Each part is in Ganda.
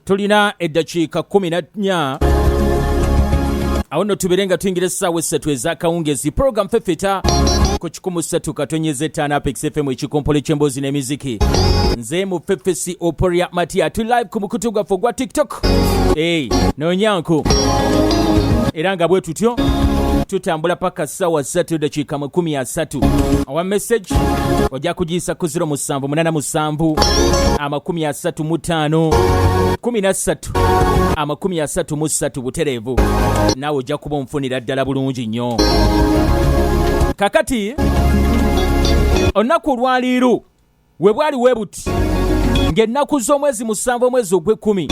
tulina eddakiika 14 awo nno tubeere nga tuyingira essaawa essatu ez'akawungezi puroguramu fefeta ku kikumu ssatu katonyeza ettaano apex fm ekikompolo ky'emboozi n'emiziki nze mu fefesi oporia matia tuli live ku mukutu gwaffe ogwa tiktok Park hey, nonyanku era nga bwe tutyo tutambula paka sawa satu dakiika mu kumi asatu owa message ojja kugiyisa ku 0787 amakumi asatu mu ttaano kumi na ssatu amakumi asatu mu ssatu butereevu naawe ojja kuba onfunira ddala bulungi nnyo kakati olunaku olwaliiro we bwali we buti ng'ennaku z'omwezi musanvu omwezi ogw'ekkumi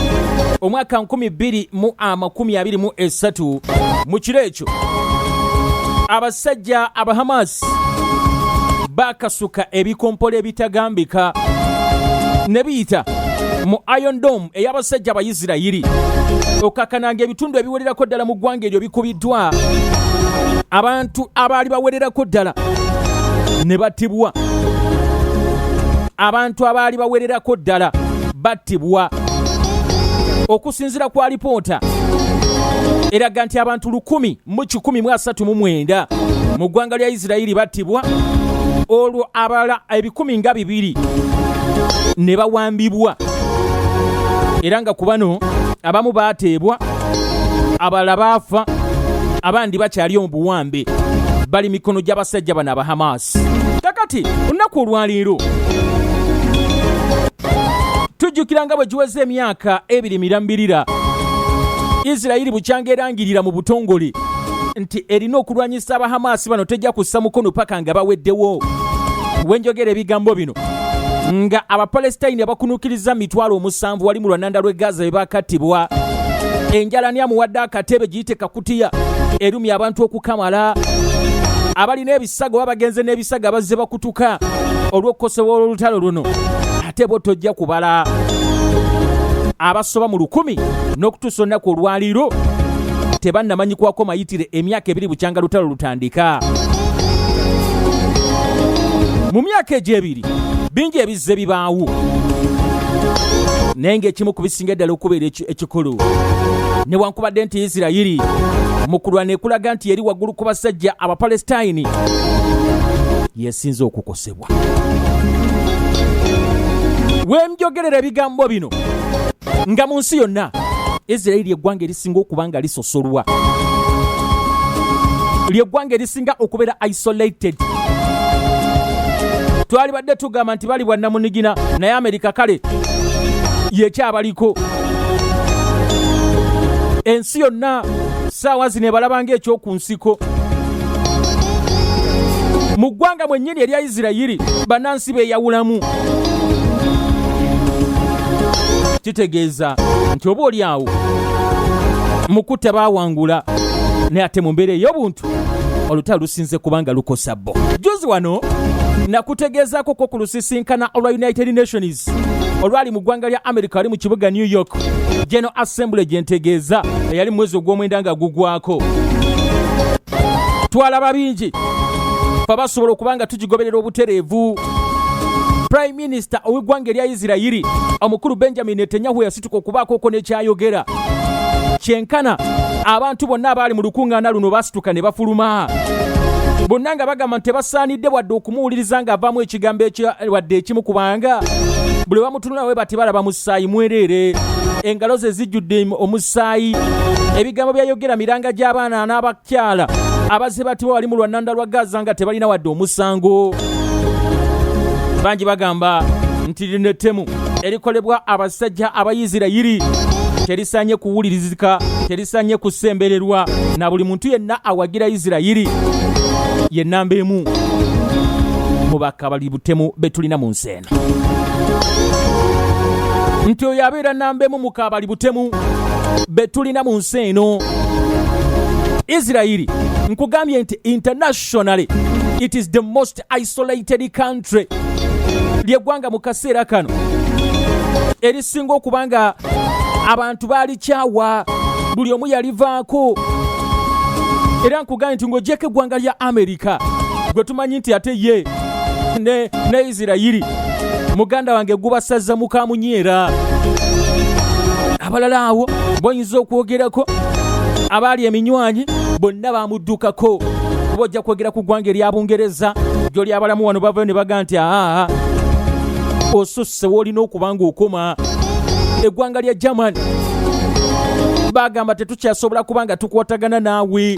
omwaka 223 mu kiro ekyo abasajja abahamaasi baakasuka ebikompola ebitagambika ne biyita mu iron dome ey'abasajja abayisirayiri okakkananga ebitundu ebiwererako ddala mu ggwanga eryo bikubiddwa abantu abaali bawererako ddala ne batibwa abantu abaali bawererako ddala battibwa okusinzira ku alipoota eraga nti abantu lukumi mu 139 mu ggwanga lya isirayiri battibwa olwo abalala ebikumi nga bibiri ne bawambibwa era nga ku bano abamu baateebwa abalala baafa abandi bakyali omu buwambe bali mikono gy'abasajja bano aba hamas kakati olunaku olwaleero tujjukira nga bwe giweze emyaka ebiri mirambirira isirayiri bukyanga erangirira mu butongole nti erina okulwanyisa abahamaasi bano tejja kussa mukono paka nga baweddewo wenjogera ebigambo bino nga abapalestine abakunukiriza mitwalo omusanvu wali mu lwananda lw'e gaza bwe bakattibwa enjala ni amuwadde akatebe giyite kakutiya erumya abantu okukamala abalina saga oba bagenze n'ebisaga bazze bakutuka olw'okukosebwa olw'olutalo luno ate bo tojja kubala abasoba mu lukumi n'okutuusa olunaku olwaliiro tebannamanyikwako mayitire emyaka ebiri bukyanga lutalo lutandika mu myaka egyo ebiri bingi ebizze bibaawo naye ng'ekimu ku bisinga ddala okubeera ekimu ekikulu newankubadde nti isirayiri mu kulwana ekulaga nti yeri waggulu ku basajja abapalesitayini yesinze okukosebwa wemjogerera ebigambo bino nga mu nsi yonna isirayiri eggwanga erisinga okuba nga liso sulwa lyeggwanga erisinga okubeera isolated twalibadde tugamba nti bali bwannamunigina naye amerika kale yekyabaliko ensi yonna saawa zino ebalabanga ekyoku nsiko mu ggwanga mwenye eddya erya isirayiri banansi beyawulamu kitegeeza nti oba oli awo mukutta bawangula naye ate mu mbeera ey'obuntu olutalo lusinze kubanga lukosa bo juzi wano nakutegeezaako ko ku lusisinkana olwa united nations olwali mu ggwanga lya america wali mu kibuga new york general assembly gye ntegeeza eyali mu mwezi ogw'omwenda nga gugwako twalaba bingi fe basobola okuba nga tugigoberera obutereevu prime minister ow'eggwanga erya isirayiri omukulu benjamin netanyahu yasitula yatuka okubaakoko nekyayogera kyenkana abantu bonna abaali mu lukuŋŋaana luno basituka ne bafuluma bonna nga bagamba nti tebasaanidde wadde okumuwuliriza ng'avaamu ekigambo wadde ekimu kubanga buli bamutunulawe bati balaba musaayi mwereere engalo ze zijjudde omusaayi ebigambo byayogera miranga gy'abaana kyala abazze batibwa wali mu lwannanda lwa gaza nga tebalina wadde omusango bangi bagamba nti lino ettemu erikolebwa abasajja abayisirayiri terisanye kuwulirizika terisanye kusembererwa na buli muntu yenna awagira isirayiri ye namba emu mu bakabali butemu betulina mu nsi nti oyo abeera namba emu mu kaabali butemu be tulina mu nsi eno isirayiri nkugambye nti internationally it is the most isolated country lyegwanga mu kaseera kano erisinga okuba nga abantu balikyawa buli omu yalivaako era nkugambye nti ng'ogyeko eggwanga lya amerika gwe tumanyi nti ate ye ne, ne isirayiri muganda wange gubasazza mukamunyeera abalala awo boyinza okwogerako abaali eminywanyi bonna bamuddukako kuba ojja kwogera ku ggwanga erya bungereza gyoli abalamu wano bavayo ne baga nti aa osusse woolina okuba ng'okoma eggwanga lya german bagamba tukyasobola kuba nga tukwatagana naawe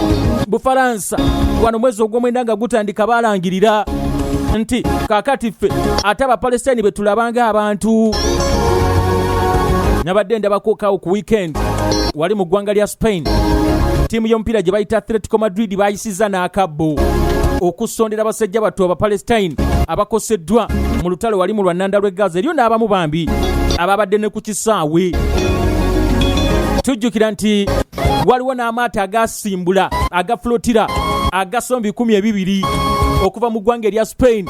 bufalansa wano mwezi ogw'omwenda nga gutandika balangirira nti kakati ffe ate abapalestine be tulabanga abantu nabadde ndabakokaawo ku weekend wali mu ggwanga lya spain ttiimu y'omupiira gye bayita atletico madrid bayisiza n'akabbo okusondera abasajja battu abapalestine abakoseddwa mu lutalo wali mu lwannanda lw'e gaza eriyo n'abamu bambi ababadde ne kisaawe tujjukira nti waliwo n'amaato agasimbula agafulotira agasoma bikumi ebibiri okuva mu ggwanga erya spain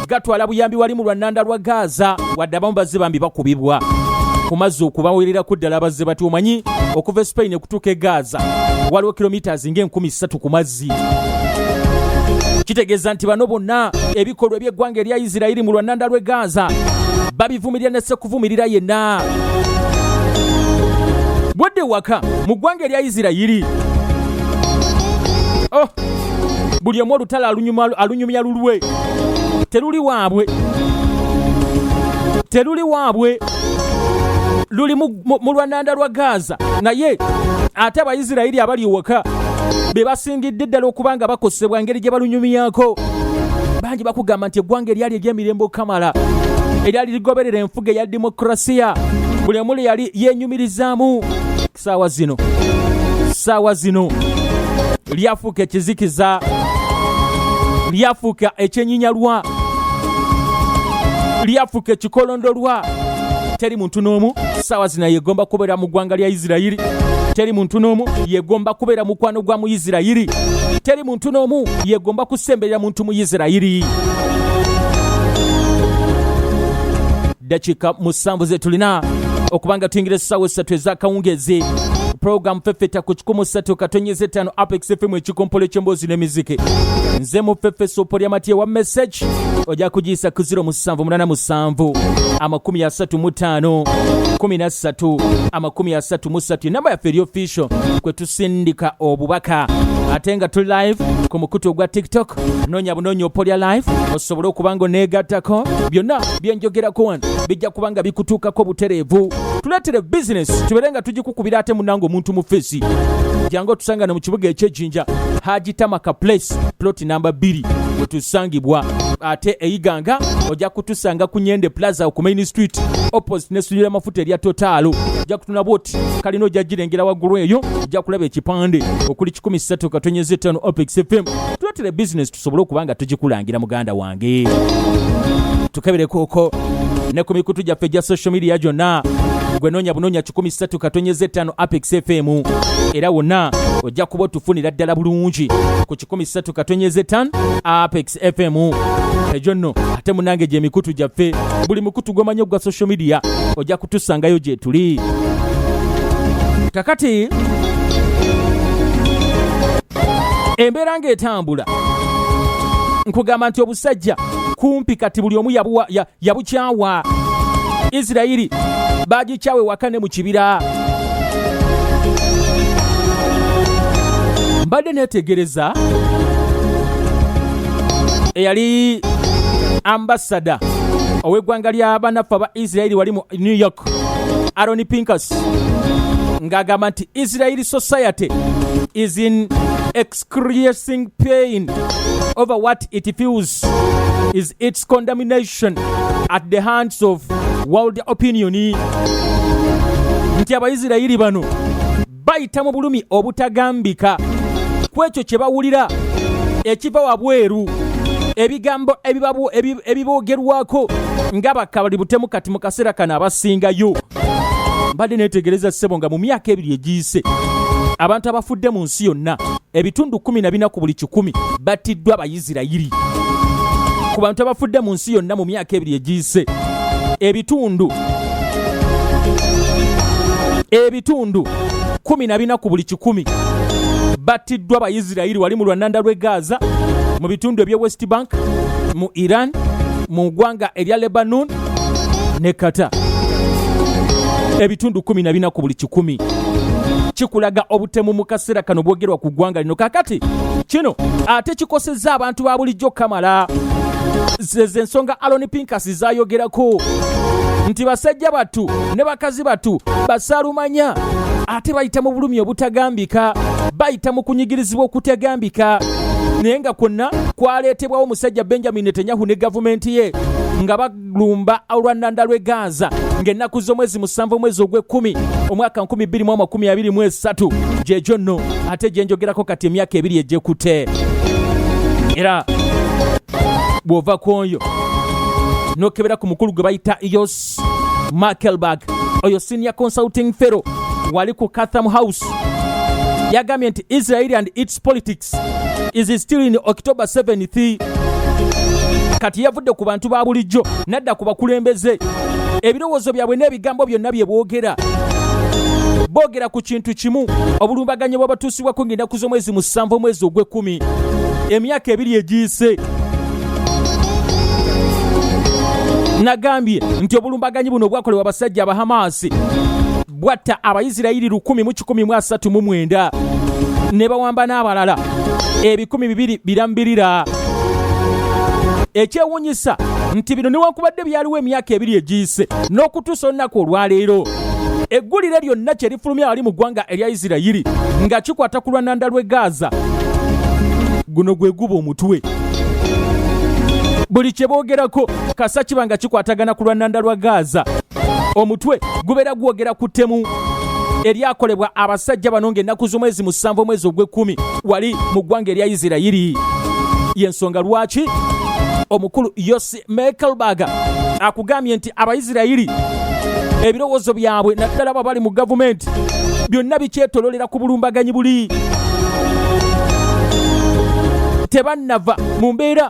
gatwala buyambi wali mu lwannanda lwa gaaza wadde abamu bazze bambi bakubibwa ku mazzi okubawererako ddala abazze bati omanyi okuva e spain okutuuka e gaaza waliwo kilomitas ng'enkumi ssatu ku mazzi bw'obufuzi kitegeeza nti bano bonna ebikolwa eby'eggwanga erya isirairi mu lwannanda lw'e gaaza babivumirira ne sekuvumirira yenna bwadde waka mu ggwanga erya isirayiri oh, buli omu olutalo alunyumya lulwe teruli waabwe teruli waabwe luli mu mu lwananda lwa gaaza naye ate abaisirairi abali ewaka be basingidde ddala okuba nga bakosebwa ngeri gye balunyumyako bangi bakugamba nti eggwanga eryali ery'emirembe okamala eryali ligoberera enfuga eya demokrasiya buli omuli yali yenyumirizaamu saawa zino saawa zino lyafuuka ekizikiza lyafuuka ekyenyinyalwa lyafuuka ekikolondolwa teri muntu n'omu saawa zina yegomba kubeera mu ggwanga lya isirayiri teri muntu n'omu yegomba kubeera mukwano gwa mu isirayiri teri muntu n'omu yegomba kusemberera muntu mu isirayiri dakika musanvu zetulina okubanga tuyingira essaawa essatu ezakawungeezi pulogulaamu fefeta ku kikumu ssatu katonyeza ettaano apex fm ekikompolo eky'emboozi n'emiziki nze mu fefeso polyamatyewa message ojja kugiyisa ku 0787 amakumi asatu mu ttaano kumi na ssatu amakumi asatu mu ssatu enamba yaffe eri official kwe tusindika obubaka ate nga tuli live ku mukutu ogwa tiktok noonya bunoonya opolya live osobole okuba nga oneegattako byonna byenjogerako wano bijja kuba nga bikutuukako butereevu tuleetere bizinesi tubeere nga tugikukubira ate munange omuntu mu feesi jangu otusangane mu kibuga ekyegi Kayanja Haji Tamaka Place plot namba 2 wetusangibwa ate eyiganga ojja kutusanga ku Nyende Plaza ku Main Street opposite ne sujira mafuta erya Total ojja kutuna boti kalina ojja jirengera waggulu eyo ojja kulaba ekipande okuli 13 katonyeze 5 Opex FM tuletera business tusobole okuba nga tugikulangira muganda wange tukeberekuuko ne ku mikutu gyaffe egya social media gyonna gwe noonya bunoonya 13 katonyeza ettaano apex fm era wonna ojja kuba otufunira ddala bulungi ku 13 katonyeza ettaano apex fm egyo nno ate munange gye mikutu gyaffe buli mukutu gw'omanyi ogwa social media ojja kutusangayo gye tuli kakati embeera ng'eta bw'otambula nkugamba nti obusajja kumpi kati buli omu yabukyawa isirayiri bagikyawe waka ne mu kibira mbadde neetegereza eyali ambasada ow'eggwanga lya banaffe aba isirayiri wali mu new york aroni pinkas ng'agamba nti isirayiri society is in experiencing pain over what it feels is its condemnation at the hands of world opinion nti abaisirayiri bano bayita mu bulumi obutagambika ku ekyo kye bawulira ekiva wabweru ebigambo ebiboogerwako nga bakabali butemu kati mu kaseera kano abasingayo mbadde neetegereza ssebo nga mu myaka ebiri egiyise abantu abafudde mu nsi yonna ebitundu kumi na bina ku buli kikumi battiddwa abayisirayiri ku bantu abafudde mu nsi yonna mu myaka ebiri egiyise ebitundu ebitundu kumi na bina ku buli kikumi battiddwa abayisirayiri wali mu lwananda lw'e gaza mu bitundu eby'e west bank mu iran mu ggwanga erya lebanon ne kata ebitundu 14 ku buli kikumi kikulaga obutemu mu kaseera kano bwogerwa ku ggwanga lino kakati kino ate kikosezza abantu ba bulijjo kamala zeze ensonga aloni pinkasi zayogerako nti basajja battu ne bakazi battu basalumanya ate bayita mu bulumi obutagambika bayita mu kunyigirizibwa okutagambika naye nga kwonna kwaleetebwawo omusajja benjamin netanyahu ne gavumenti ye nga balumba olwannanda lw'e gaaza ng'ennaku z'omwezi musanvu omwezi ogw'ekkumi omwaka 2023 gyegyo nno ate gyenjogerako kati emyaka ebiri egyekute era bw'ova ku oyo n'okebera ku mukulu gwe bayita yos markelberg oyo senior consulting fero wali ku catham house yagambye nti israeli and its Its politics is still in October 7th. Kati yavudde ku bantu ba bulijjo nadda ku bakulembeze ebirowoozo byabwe n'ebigambo byonna bye boogera boogera ku kintu kimu obulumbaganyi bw'abatuusibwako ng'ennaku z'omwezi musanvu omwezi ogw'ekkumi emyaka ebiri egiyise nagambye nti obulumbaganyi buno bwakolebwa abasajja abahamaasi bwatta abayisirayiri lukumi mu kikumi mu asatu mu mwenda ne bawamba n'abalala ebikumi bibiri birambirira ekyewunyisa nti bino newankubadde byaliwo emyaka ebiri egiyise n'okutuusa olunaku olwaleero eggulire lyonna kye lifulumya wali mu ggwanga erya isirayiri nga kikwata ku lwananda lw'e gaaza guno gwe guba omutwe buli kye boogerako kasa kiba nga kikwatagana ku lwananda lwa gaaza omutwe gubeera gwogera ku ttemu eryakolebwa abasajja bano ng'ennaku z'omwezi musanvu omwezi ogw'ekkumi wali mu ggwanga erya isirayiri y'ensonga lwaki omukulu yosi mekelbaga akugambye nti abaisirayiri ebirowoozo byabwe naddala baba bali mu gavumenti byonna bikyetololera ku bulumbaganyi buli tebannava mu mbeera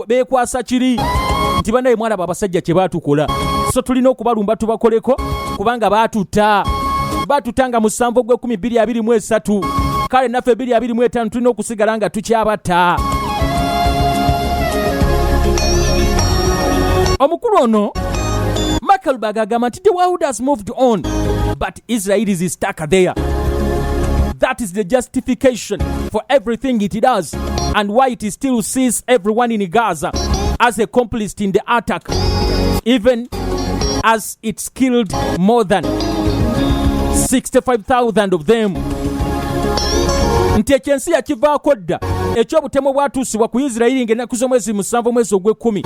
bekwasa kiri nti banaye mwalaba abasajja kye batukola so tulina okubalumba tubakoleko kubanga batutta batutta nga musanvu gw'ekumi bbiri abiri mu esatu kale naffe bbiri abiri mu etaano tulina okusigala nga tukyabatta omukulu ono michael bagagamba nti the world has moved on but Israel is stuck there. That is the justification for everything it does and why it still sees everyone in Gaza as a complice in the attack, even as it's killed more than 65,000 of them. nti ekyensi yakivaako dda ekyobutemu bwatuusibwa ku isirayiri ng'ennaku z'omwezi musanvu omwezi ogw'ekkumi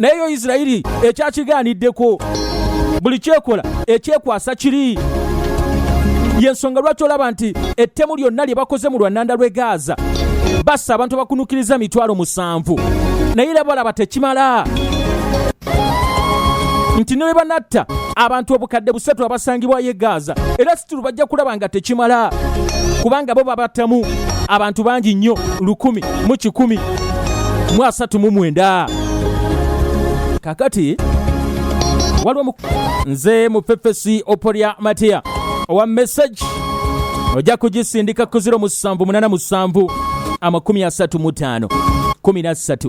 naye yo isirayiri ekyakigaaniddeko buli kyekola ekyekwasa kiri yensonga lwaki olaba nti ettemu lyonna lye bakoze mu lwannanda lw'e gaaza bassa abantu bakunukiriza mitwalo musanvu naye era balaba tekimala nti ne bwe banatta abantu obukadde busatu abasangibwayo e gaaza era situlu bajja kulaba nga tekimala kubanga bo babattamu abantu bangi nnyo lukumi mu kikumi mu asatu mu mwenda akati waliwo nze mupepesi opolya matiya owa message ojja kugisindika ku 0787 amakumi asatu mu ttaano kumi na ssatu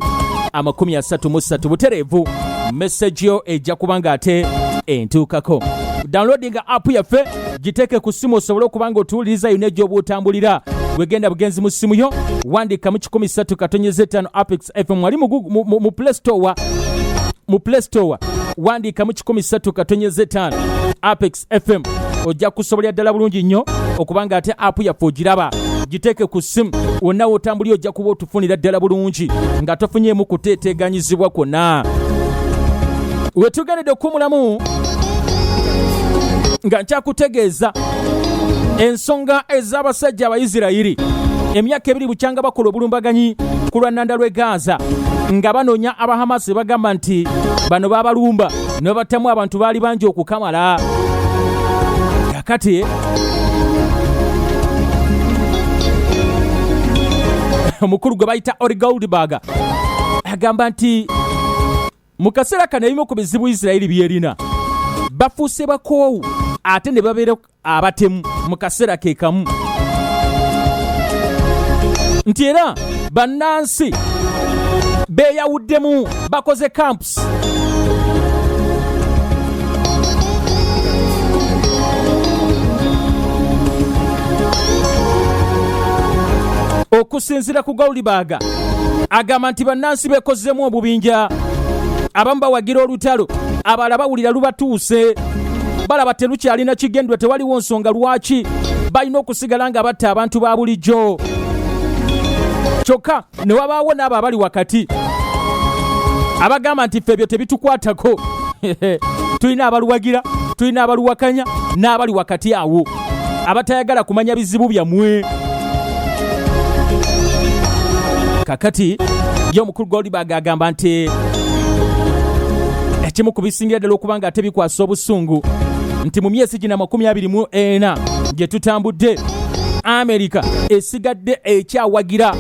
amakumi asatu mu ssatu butereevu message yo ejja kuba nga ate entuukako downloadinga app yaffe giteeke ku ssimu osobole okuba nga otuwuliriza yonna egy'oba otambulira wegenda bugenzi mu ssimu yo wandika mu 13 katonyeza 5 apex fm wali mu, Google- mu, mu, mu play store mu play store wandiikamu 13 katonyeza etaano apex fm ojja kusobolera ddala bulungi nnyo okuba nga ate apu yaffe ogiraba giteeke ku ssimu wonna wotambulira ojja kuba otufunira ddala bulungi nga tofunyeemu kuteeteeganyizibwa kwonna wetugendedde okukumulamu nga nkyakutegeeza ensonga ez'abasajja abayisirayiri emyaka ebiri bukyanga bakola obulumbaganyi ku lwa nnanda lw'e gaaza nga banoonya abahamasi bagamba nti bano babalumba ne babattamu abantu baali bangi okukamala kakati omukulu gwe bayita ori goldberg agamba nti mu kaseera kano ebimu ku bizibu isirayiri byerina bafuuse bakoowu ate ne babeera abatemu mu kaseera ke kamu nti era bannansi beeyawuddemu bakoze camps okusinzira ku gaulibaga agamba nti bannansi beekozzemu obubinja abamu bawagira olutalo abalala bawulira lubatuuse balaba telukyalina kigendwa tewaliwo nsonga lwaki balina okusigala nga batta abantu ba bulijjo kyokka ne wabaawo n'abo abali wakati abagamba nti ffe ebyo tebitukwatako tulina abaluwagira tulina abaluwakanya n'abali wakati awo abatayagala kumanya bizibu byammwe kakati ye omukulu goldberg agamba nti ekimu ku bisingira ddala okuba nga ate bikwasa obusungu nti mu myezi gina makumi abiri mu ena gye tutambudde amerika esigadde ekyawagira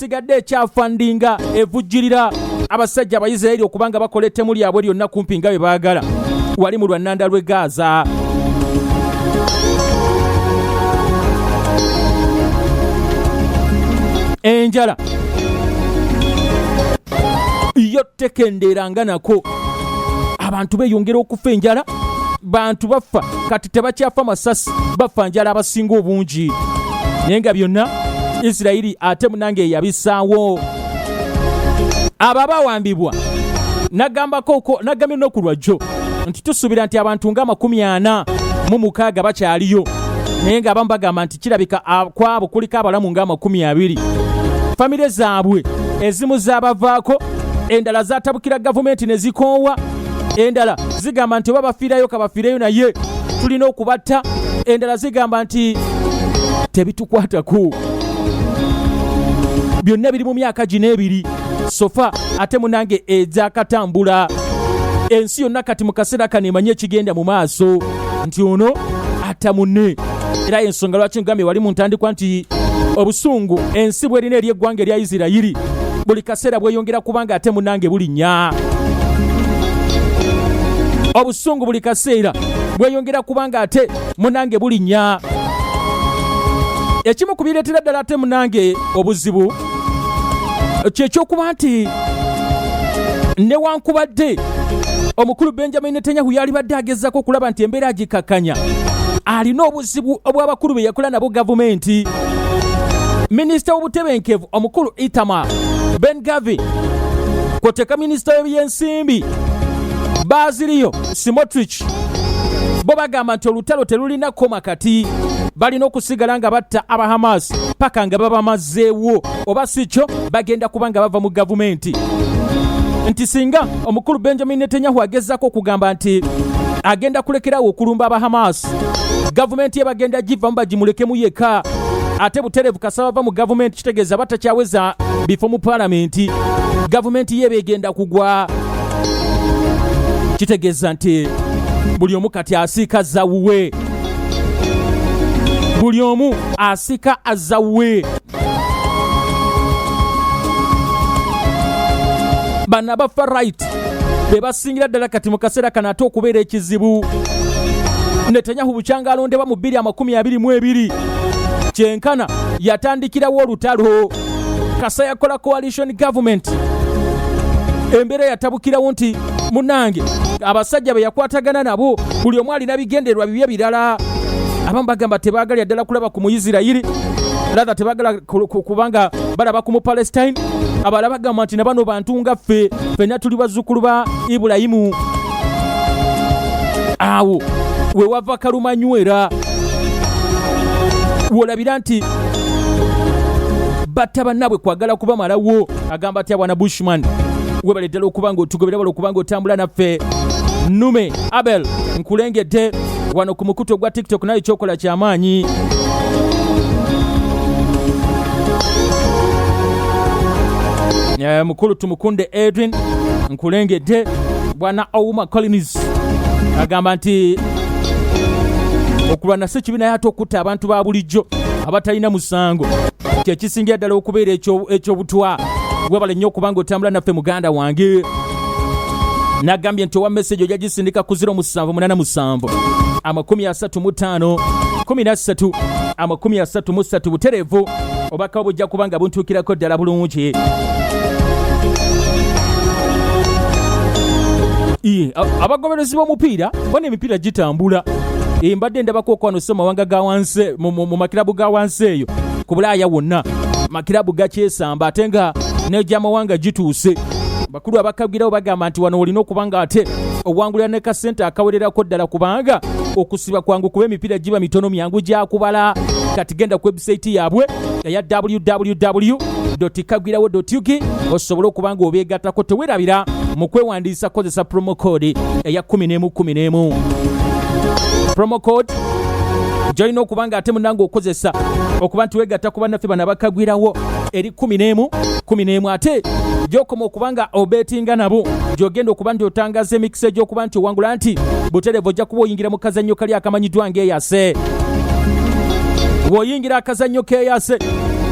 sigadde ekyafandinga evujjirira abasajja abayisirayiri okuba nga bakola ettemu lyabwe lyonna kumpi nga bye baagala wali mu lwannanda lw'e gaaza enjala yo tekendeeranga nako abantu beyongera okufa enjala bantu bafa kati tebakyafa masasi bafa njala abasinga obungi naye nga byonna isirayiri ate munange eyabisaawo abo abawambibwa nagambako nagambye noku lwajjo nti tusuubira nti abantu nga amakumi ana mu mukaaga bakyaliyo naye nga abamu bagamba nti kirabika kwabo kuliko abalamu nga amakumi abiri famire zaabwe ezimu zaabavaako endala zatabukira gavumenti ne zikoowa endala zigamba nti oba bafiirayo kabafiireyo naye tulina okubatta endala zigamba nti tebitukwatako byonna biri mu myaka gino ebiri sofa ate munange egyakatambula ensi yonna kati mu kaseera kano emanye ekigenda mu maaso nti ono ata munne era ensonga lwaki ngambye wali mu ntandikwa nti obusungu ensi bwerina eri eggwanga erya isirayiri buli kaseera bweyongera kubanga ate munange bulinya obusungu buli kaseera bweyongera kubanga ate munange bulinya ekimu ku bireetera ddala ate munange obuzibu kyekyokuba nti newankubadde omukulu benjamin netanyahu yalibadde agezaako okulaba nti embeera agikakanya alina obuzibu obw'abakulu be yakola nabo gavumenti minisita w'obutebenkevu omukulu itama ben gavi kwoteka minisita w'ebyensimbi baaziriyo simotrich bo bagamba nti olutalo telulina koma kati balina okusigala nga batta aba hamas paka nga babamazeewo oba si kyo bagenda kuba nga bava mu gavumenti nti singa omukulu benjamin netanyahu agezaako okugamba nti agenda kulekerawo okulumba aba hamas gavumenti ye bagenda givamu bagimulekemu yekka ate butereevu kasaba bava mu gavumenti kitegeeza batakyaweza bifo mu palamenti gavumenti ye beegenda kugwa kitegeeza nti buli omu kati asiika zawuwe buli omu asika azawe bano abafa right be basingira ddala kati mu kaseera kano ate okubeera ekizibu netanyahu bukyanga alondebwa mu 222 kyenkana yatandikirawo olutalo kasa yakola coalition government embeera yatabukirawo nti munange abasajja beyakwatagana nabo buli omu alina bigendererwa bibye birala abamu bagamba tebaagalira ddala kulaba ku muisirayiri ratha tebagala kubanga balaba ku mupalestine abala bagamba nti nabano bantu nga ffe fenna tuli bazzukulu ba ibulayimu awo wewava kalumanywera wolabira nti batta bannaabwe kwagala kubamalawo agamba atya bwana bushman webale ddala okuba ng'otugobera bala okuba ng'otambula naffe nume abel nkulengedde wano ku mukutu ogwa tiktok naye kyokola kyamaanyi eh, mukulu tumukunde edwin nkulengedde bwana ouma collins agamba nti okulwana si kibi naye ate okutta abantu ba bulijjo abatalina musango kyekisingira ddala okubeera ekyobutwa webale nnyo okubanga otambula naffe muganda wange nagambye nti owa meseji ojja gisindika ku 0787 amakumi asatu mu ttaano kumi na ssatu amakumi asatu mu ssatu butereevu obakawo bujja kuba nga buntuukirako ddala bulungi abagoberezi b'omupiira bona emipiira gitambula mbadde ndabako okwano so mawanga ga wansi mu makirabu ga wansi eyo ku bulaaya wonna makirabu gakyesamba ate nga negyamawanga gituuse bakulu abakagirawo bagamba nti wano olina okuba nga ate owangulira ne kasente akawererako ddala kubanga okusiba kwangu kuba emipiira giba mitono myangu gyakubala kati genda ku webusaiti yaabwe eya www kagwirawo ugi osobole okuba nga obeegattako tewerabira mu kwewandiisa kozesa promo code eya 1111 promo code gyolina okuba nga ate munange okozesa okuba nti wegatta ku bannaffe bano abakagwirawo eri 1111 ate gyokoma okuba nga obetinga nabo gyogenda okuba nti otangaza emikisa egyokuba nti owangula nti buterevu ojja kuba oyingira mu kazannyo kali akamanyiddwa ng'eyase Omulangira akazannyo keeyase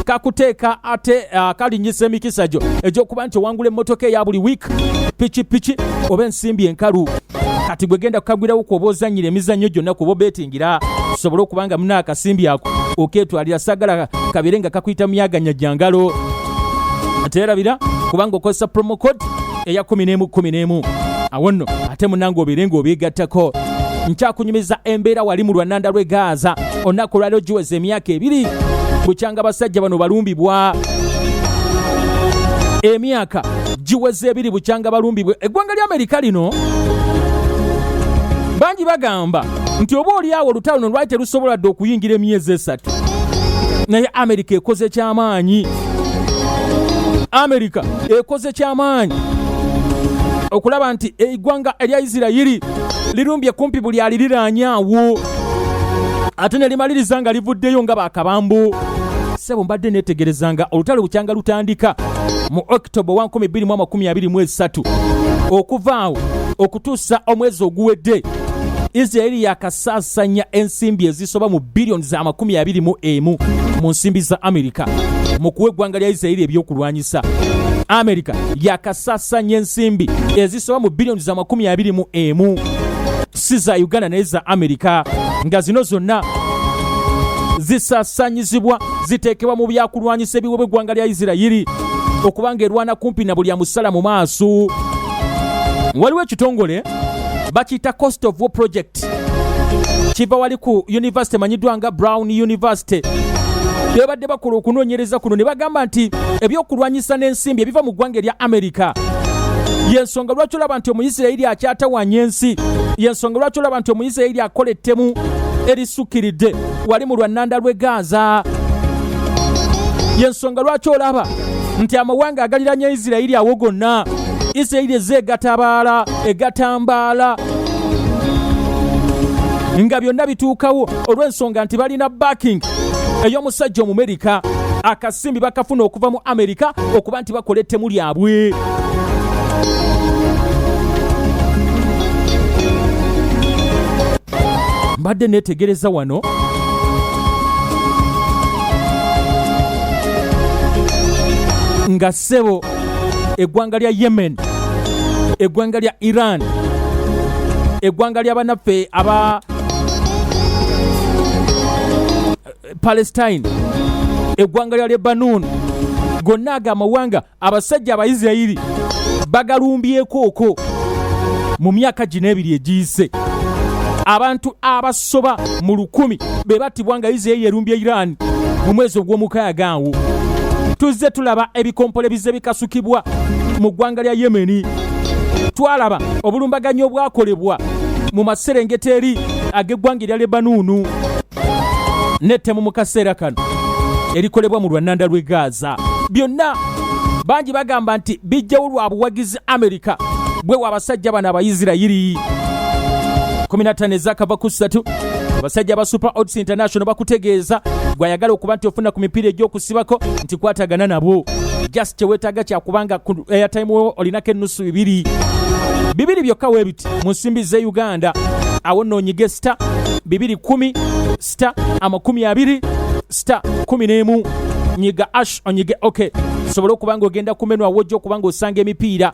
kakuteeka ate uh, kalinyisa emikisa gyo egy'okuba nti owangula emmotoka eya buli wiiki pikipiki oba ensimbi enkalu kati gwe genda kukagwirawo kuoba ozannyira emizannyo gyonna kuba obeetingira osobole okuba nga muna akasimbi ako okeetwalira sagala kabeere nga kakuyita myaganya gya ngalo teerabira kubanga okozesa promo code eya 1111 awo nno ate munange obeere ng'obeegattako nkyakunyumiza embeera wali mu lwananda lwe gaaza olunaku olwaliro giweza emyaka ebiri bukyanga basajja bano balumbibwa emyaka giweza ebiri bukyanga balumbibwa eggwanga lya amerika lino bangi bagamba nti oba olyawo olutalo no lwali terusobola dde okuyingira emyezi esatu naye amerika ekoze kyamaanyi amerika ekoze kyamaanyi okulaba nti eggwanga erya isirayiri lirumbye kumpi buli aliriraanyaawo ate ne limaliriza nga livuddeyo nga bakabambu sebo mbadde netegereza nga olutalo bukyanga lutandika mu october 1223 okuvaawo okutuusa omwezi oguwedde isiraeri yakasaasanya ensimbi ezisoba mu biliyoni za makumi abiri mu emu mu nsimbi za amerika mu kuwa eggwanga lya isiraeri ebyokulwanyisa amerika yakasaasanya ensimbi ezisoba mu biliyoni za makumi abiri mu emu si za uganda naye za amerika nga zino zonna zisasanyizibwa ziteekebwa mu byakulwanyisa ebiwebwa eggwanga lya isirayiri okubanga erwana kumpi na buli amusala mu maaso waliwo ekitongole bakiyita cost of war project kiva wali ku university emanyiddwa nga brown university bebadde bakola okunoonyereza kuno ne bagamba nti ebyokulwanyisa n'ensimbi ebiva mu ggwanga erya amerika yensonga lwaki olaba nti omuyisirayiri akyatawanya ensi yensonga lwaki olaba nti omuyisirayiri akola ettemu erisukkiridde wali mu lwannanda lw'e gaaza yensonga lwaki olaba nti amawanga agaliranya isirayiri awo gonna isirayiri ezze egatabaala egatambaala nga byonna bituukawo olw'ensonga nti balina backing ey'omusajja omumerika akasimbi bakafuna okuva mu amerika okuba kati bakola ettemu lyabwe mbadde neetegereza wano nga ssebo eggwanga lya yemen eggwanga lya iran eggwanga lya banaffe aba palestine eggwanga lya lebanon gonna ago amawanga abasajja abaisirairi bagalumbyekoko mu myaka gino ebiri egiyise abantu abasoba mu lukumi be battibwa nga isirairi erumbye iran mu mwezi ogw'omukaaga awo tuzze tulaba ebikompole bizze bikasukibwa mu ggwanga lya yemeni twalaba obulumbaganyi obwakolebwa mu maserengeta eri ag'eggwanga erya lebanuunu n'ettemu mu kaseera kano erikolebwa mu lwannanda lw'e Gaza byonna bangi bagamba nti bijjawo lwa buwagizi Amerika bwewa abasajja bano abayisirayiri 15 ezakava ku ssatu abasajja ba super odds international bakutegeeza gwayagala okuba nti ofuna ku mipiira egy'okusibako nti kwatagana nabwo just kyewetaaga kyakubanga ku airtime wo olinako ennusu bibiri bibiri byokka webi mu nsimbi z'e uganda awo nno onyige sita bibiri kumi sita amakumi abiri sita kumi n'emu nyiga ash onyige ok sobole okuba nga ogenda kumenwa awojja okuba nga osanga emipiira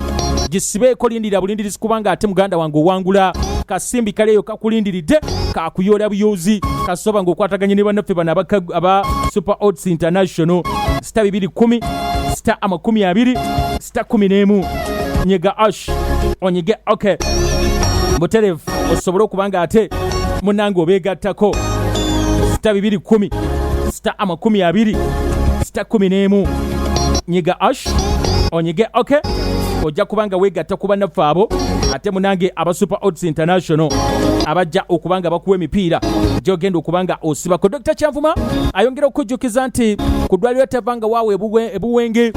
gisibeeko lindira bulindirizi kubanga ate muganda wange owangula kasimbi kaleeyo kakulindiridde kakuyoola buyoozi kasoba nga okwataganye ne bannaffe bano aba super ots international sita bibiri kumi sita amakumi abiri sita kumi n'emu nyiga ash onyige ok buterevu osobole okuba nga ate munange obeegattako sita bibiri kumi sita amakumi abiri sita kumi n'emu nyiga ash onyige ok ojja kuba nga weegatta ku bannaffe abo ate munange aba super odds international abajja okuba nga bakuwa emipiira gyogenda okuba nga osibako dr kyanvuma ayongera okukujjukiza nti ku ddwaliro tava nga waaweebubwe e Buwenge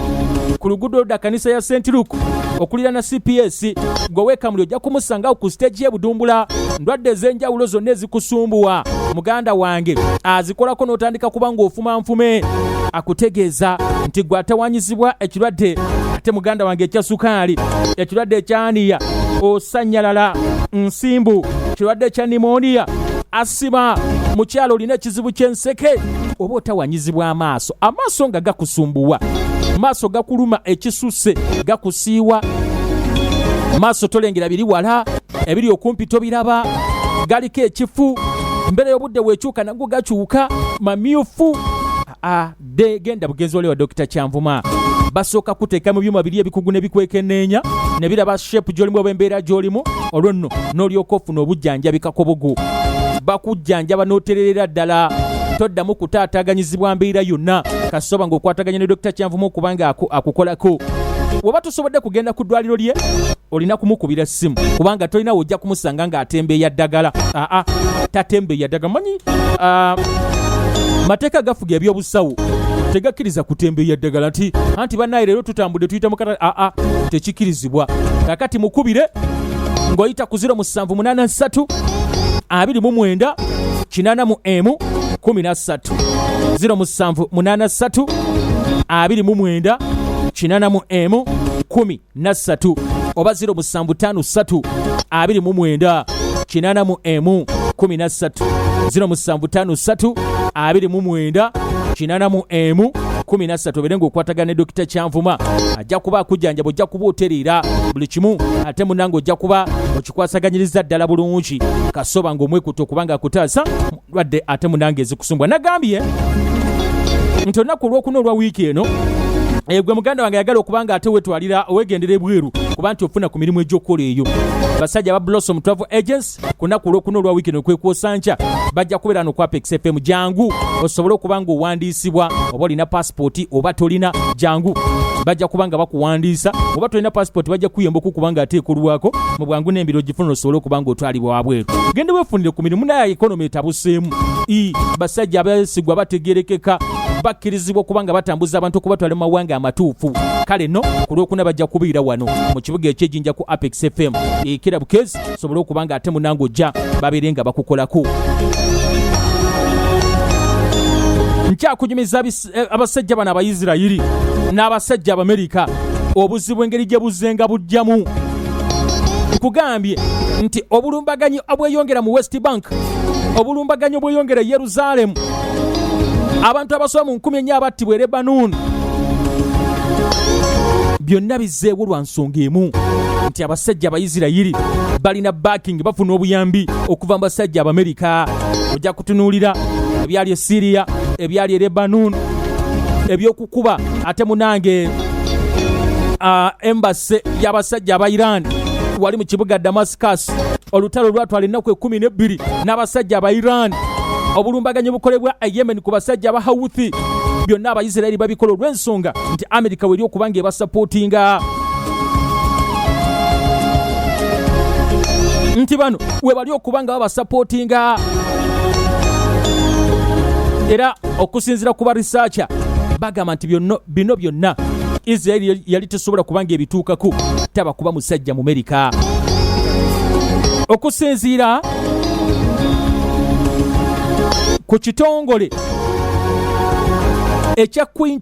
ku luguudo da kanisa ya St Luke okulira na CPS gwe wekamuli ojja kumusangawo ku siteegi ye Budumbula ndwadde ez'enjawulo zonna ezikusumbuwa muganda wange azikolako n'otandika kuba ng'ofuma nfume akutegeeza nti gwe atawanyizibwa ekirwadde ate muganda wange ekya sukaali ekirwadde ekyaniya osanyalala nsimbu kirwadde kya nimoniya siba mukyalo olina ekizibu ky'enseke oba otawanyizibwa amaaso amaaso nga gakusumbuwa maaso gakuluma ekisusse gakusiiwa maaso tolengera biri wala ebiri okumpi tobiraba galiko ekifu mbeera y'obudde weekyuka nago gakyuka mamyufu a de genda bugenzi wali wa dokita kyanvuma basooka kuteeka mu byuma biri ebikugu ne bikwekeneenya ne biraba shepu gy'olimu oba embeera gy'olimu olwo nno n'olyoka ofuna obujjanjabi kakobogo bakujjanjaba n'otererera ddala toddamu kutaataganyizibwa mbeera yonna kasoba ng'okwataganya ne dokita kyanvumu okubanga akukolako weba tusobodde kugenda ku ddwaliro lye olina kumukubira essimu kubanga tolinawo ojja kumusanga ng'atembeeya ddagala aa tatembeeya ddagala manyi mateeka agafuga ebyobusawo tegakkiriza kutembeeya ddagala nti anti bannaye leero tutambudde tuyita mukata aa tekikkirizibwa kakati mukubire ng'oyita ku 0 musanvu munana nsatu abiri mu mwenda kinana mu emu kumi na ssatu 0 musanvu munana ssatu abiri mu mwenda kinana mu emu kumi nassatu oba 0 musanvu ttaano ssatu abiri mu mwenda kinaana mu emu kumi na ssatu 0 musanvu ttaano ssatu abiri mu mwenda kinaana mu emu kumi na ssatu obeere ng'okwatagana ne dokita kyanvuma ajja kuba akujjanjaba ojja kuba otereera buli kimu ate munange ojja kuba okikwasaganyiriza ddala bulungi kasoba ng'omwekutte okubanga akutaasa mu lwadde ate munange ezikusumbwa nagambye nti olunaku olwokuna olwa wiiki eno eh, gwe muganda wange yagala okuba nga ate wetwalira wegendera ebweru kuba nti ofuna ku mirimu egyokukola eyo basajja ba blossom travel agents ku naku olwokuna olwa wiiki eno kwekwosa nkya bajja kubeera nokwapa xfm jangu osobole okuba nga owandiisibwa oba olina passport oba tolina jangu bajja kuba nga bakuwandiisa oba tolina passport bajja kuyamba okukuba nga ate ekolwako mu bwangu n'embiro gifuna osobole okuba nga otwalibwa wabweru genda wefunire ku mirimu naye ekonomi etabuseemu i basajja abesigwa bategerekeka bakkirizibwa okuba nga batambuza abantu okubatwala mu mawanga amatuufu kale no ku lwokuna bajja kubiira wano mu kibuga ekyejinja ku apex fm ekira bukezi sobole okuba nga ate munange ojja babeere nga bakukolako nkyakunyumiza eh, abasajja bano abaisirayiri n'abasajja abamerika obuzibu engeri gye buzenga bujjamu nkugambye nti obulumbaganyi obweyongera mu west bank obulumbaganyi obweyongera e yerusaalemu abantu abasoba mu nkumi ennya abattibwa e lebanon byonna bizzeewo lwa songa emu nti abasajja abayisirayiri balina backing bafuna obuyambi okuva mu basajja abamerika ojja kutunuulira ebyali e siriya ebyali e lebanon ebyokukuba ate munange uh, embase y'abasajja aba iran wali mu kibuga damascus olutalo lwatwala ennaku ekumi n'ebbiri n'abasajja aba iran obulumbaganyi bukolebwa e yemen ku basajja aba houthi byonna abaisiraeri babikola olw'ensonga nti amerika weri okuba nga ebasapootinga nti bano webali okuba nga babasapootinga era okusinzira ku barisaaca bagamba nti bino byonna israeli yali tesobola kubanga ebituukaku taba kuba musajja mu merika okusinziira ku kitongole ekya queen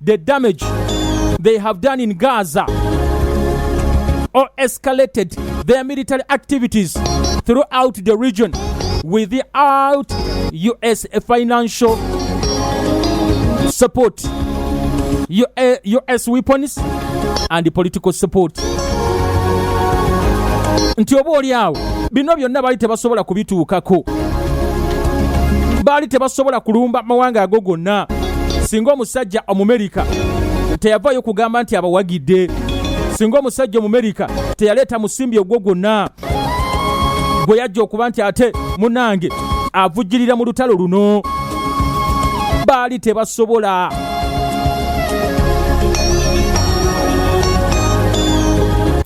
the damage they have done in Gaza or escalated their military activities throughout the region without US financial support, US weapons and political support. Nti oba oli awo bino byonna baali tebasobola kubituukako, baali tebasobola kulumba mawanga ago gonna. singa omusajja omumerika teyavaayo kugamba nti abawagidde singa omusajja omumerika teyaleeta musimbi ogwo gwonna gwe yajja okuba nti ate munange avujjirira mu lutalo luno baali tebasobola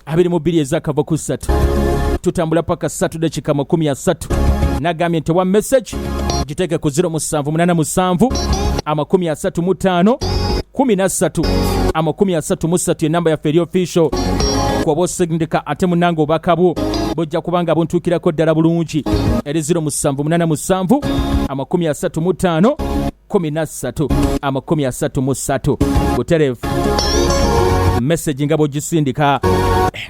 abiri mu bbiri ezakava ku ssatu tutambula paka ssatu dakika makumi asatu nagambye nti wa message giteke ku 0787 amakumi asatu mu ttaano kumi na ssatu amakumi asatu mu ssatu enamba yaffe eri official kuba osindika ate munange obubaka bwo bujja kuba nga buntuukirako ddala bulungi eri 0787 amakumi asatu mu ttaano kumi na ssatu amakumi asatu mu ssatu buterevu mesagi nga bw'ogisindika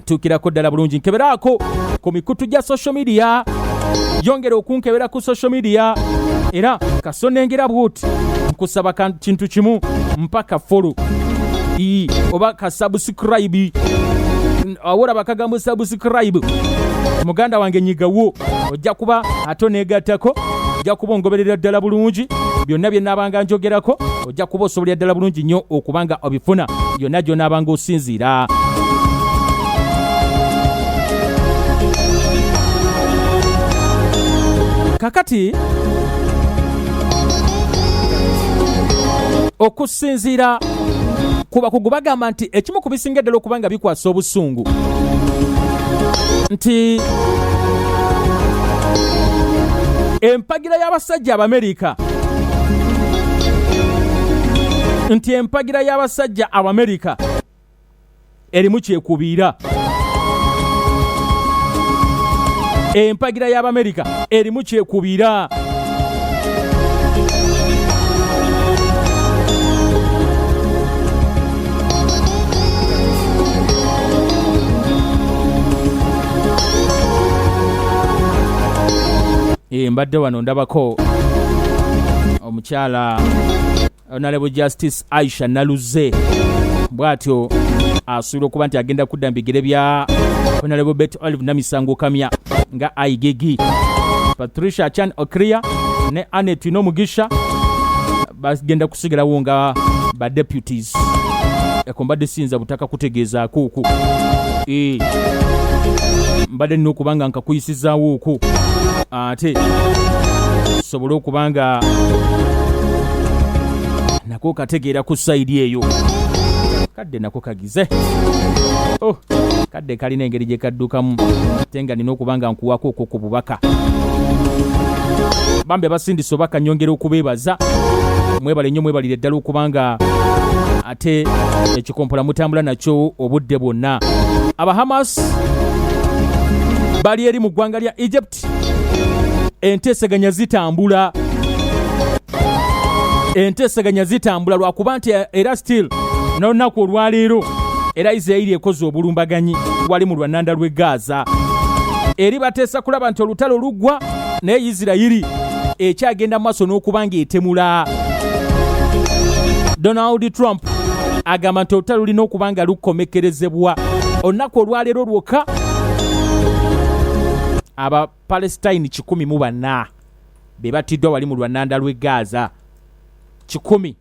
tuukirako ddala bulungi nkeberaako ku mikutu gya social media yongera okunkebera ku social media era kasonengera bwuti nkusaba ka- kintu kimu mpaka folo ii oba kasabusukurayibi awora bakagambo subscribe muganda wange nyigawo ojja kuba ate oneegattako ojja kuba ongoberera ddala bulungi byonna bye naabanga njogerako ojja kuba osobolera ddala bulungi nnyo okuba nga obifuna yonna gyonaabanga osinziira kakati okusinziira ku bakugu bagamba nti ekimu ku bisinga eddala okuba nga bikwasa obusungu nti empagira y'abasajja abamerika nti empagira y'abasajja abamerika erimu kyekubiira empagira y'abamerika erimu kyekubiira Eh, mbadde wano ndabako omukyala honorable justice aisha naluze bw'atyo asuubira okuba nti agenda kudda mu bigere bya honorable bet olive namisango kamya nga aigigi patricia chan okria ne anet nomugisha bagenda kusigalawo nga ba deputies eko mbadde siyinza butaka kutegeezaako oku Eh, mbadde nina okuba nga nkakuyisizaawo oku ate tusobole okuba nga nako kategeera ku sayidi eyo kadde nako kagize oh, kadde kalina engeri gye kaddukamu ate nga nina okuba nga nkuwako okwo ku bubaka bambi abasindisa oba kanyongera okubeebaza mwebale nnyo mwebalire ddala okubanga ate ekikompola mutambula nakyo obudde bwonna abahamas bali eri mu ggwanga lya egypt enteeseganya zitambula enteeseganya zitambula lwakuba nti era still nolunaku olwaleero era isirairi ekoze obulumbaganyi wali mu lwananda lw'e gaaza eri bateesa kulaba nti olutalo luggwa naye isirayiri ekyagenda maaso n'okuba ng'etemula donald trump agamba nti olutalo lulina okuba nga lukomekkerezebwa olunaku olwaleero lwokka abapalestine kikumi mu bana be batiddwa wali mu lwananda lw'e gaaza kikumi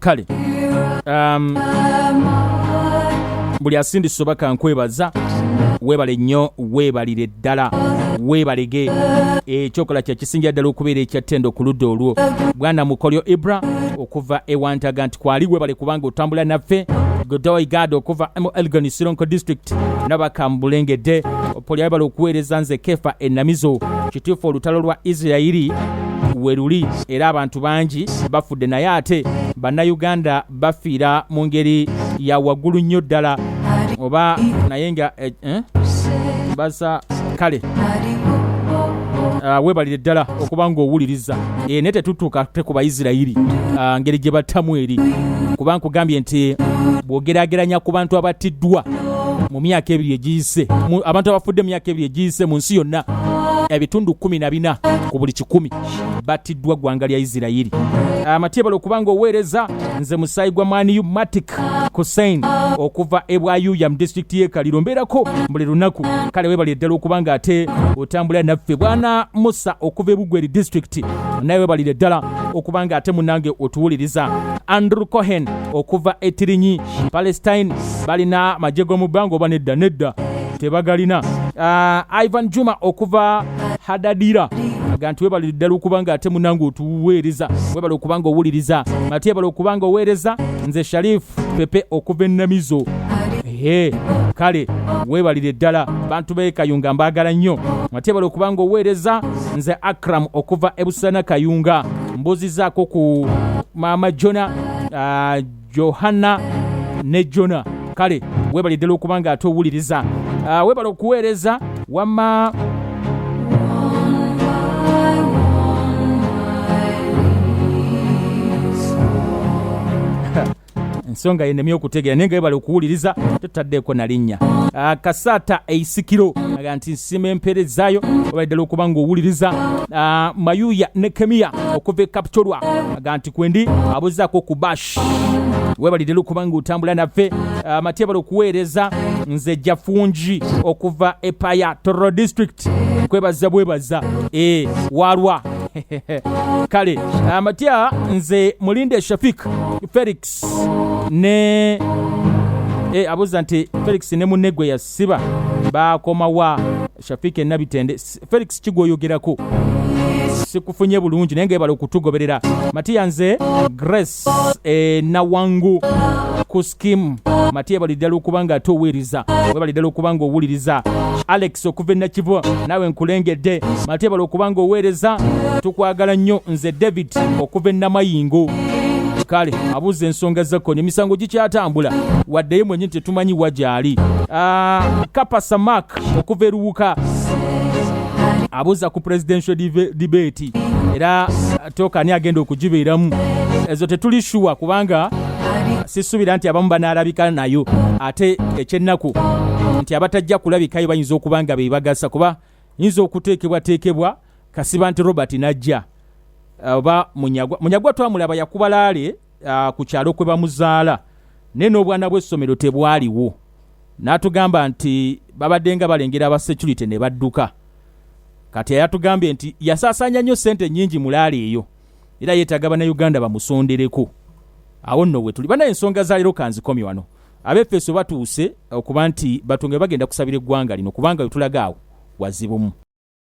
kale um, buli asindisa oba kankwebaza weebale nnyo weebalire ddala weebalege ekyokola kyekisingira ddala okubeera ekyattenda okuludda olwo bwana mukolyo ibra okuva ewantaga nti kwali weebale kubanga otambula naffe godoy gad okuva mu elgon sironko district nabakambulengedde opolio weebale okuweereza nze kefa enamizo kituufu olutalo lwa isirairi weruli era abantu bangi bafudde naye ate bannayuganda bafiira mu ngeri ya waggulu nnyo ddala oba naye nga eh, eh, basa kale ah, webalire ddala okuba ngaowuliriza eh, naye tetutuuka te ku baisirayiri ah, ngeri gye battamu eri kuba nkugambye nti bwogerageranya ku bantu abattiddwa mu myaka ebiri egiyise abantu abafudde mu myaka ebiri egiyise mu nsi yonna ebitundu kumi na bina ku buli kikumi battiddwa ggwanga lya isirayiri amatyebala okuba nga oweereza nze musaayi gwa maniyu matic kusain okuva ebwayuya mu disitulikiti y'ekaliro mbeerako buli lunaku kale webali eddala okuba nga ate otambulira naffe bwana musa okuva ebugweri disitulikiti naye webalire ddala okuba nga ate munange otuwuliriza andrew cohen okuva etirinyi palestine balina magye g'omu bbanga oba nedda nedda tebagalina uh, ivan juma okuva hadadira aga nti webale ddala okuba nga ate munange otuweereza webale okuba nga owuliriza ate ebale okuba nga oweereza nze sharif pepe okuva ennamizo ehe kale weebalire ddala bantu beekayunga mbaagala nnyo ate ebale okuba nga oweereza nze akram okuva ebusana kayunga mbuuzizaako ku maama jona uh, johana ne jona kale webale ddala okuba nga ate owuliriza uh, webale okuweereza wamma ensonga yenemye okutegeera naye nga webale okuwuliriza tetutaddeeko na linnya Ah, kasaata eisikiro aga nti nsima empeerezaayo webale ddala okuba nga owuliriza Ah, mayuya ne kemiya okuva e kapitolwa aga nti kwendi abuzako ku bash webalire lukubanga otambula naffe ah, matebala okuweereza nze jafungi okuva epaya toro district kwebaza bwebaza e walwa kale amatya nze mulinde shafik felix ne e, abuuza nti felix ne munne gwe yasiba baakomawa shafiki enabitende S- felix kigwoyogerako sikufunye bulungi naye ngebala okutugoberera matiya nze grace e, nawangu ku skim matiya ebali ddala okuba nga ate oweereza webali ddala okuba nga owuliriza alex okuva enakivu naawe nkulengedde matiya ebala okuba nga oweereza tukwagala nnyo nze david okuva enamayingo kale abuuza ensonga zakonya emisango gikyatambula waddeyo mwenye nti tetumanyi wa gyali Ah, kapasa mark okuva eruwuka abuuza ku presidential debate era toka ani agenda okugibeeramu ezo tetuli shuwa kubanga sisuubira nti abamu banaalabika nayo ate ekyennaku nti abatajja kulabikayo bayinza okuba nga bebagasa kuba yinza okuteekebwateekebwa kasiba nti robert najja oba munyagwa munyagwa twamulaba yakubalaale uh, ku kyalo kwe bamuzaala naye n'obwana bw'essomero tebwaliwo n'atugamba nti babadde nga balengera aba security ne badduka kati yayatugambye nti yasaasaanya nnyo ssente nnyingi mulaala eyo era yeetaaga bannayuganda bamusondereko awo nno wetuli banaye ensonga za leero kanzikomye wano abefeso batuuse okuba nti batonge bagenda kusabira eggwanga lino kubanga wetulaga awo wazibumu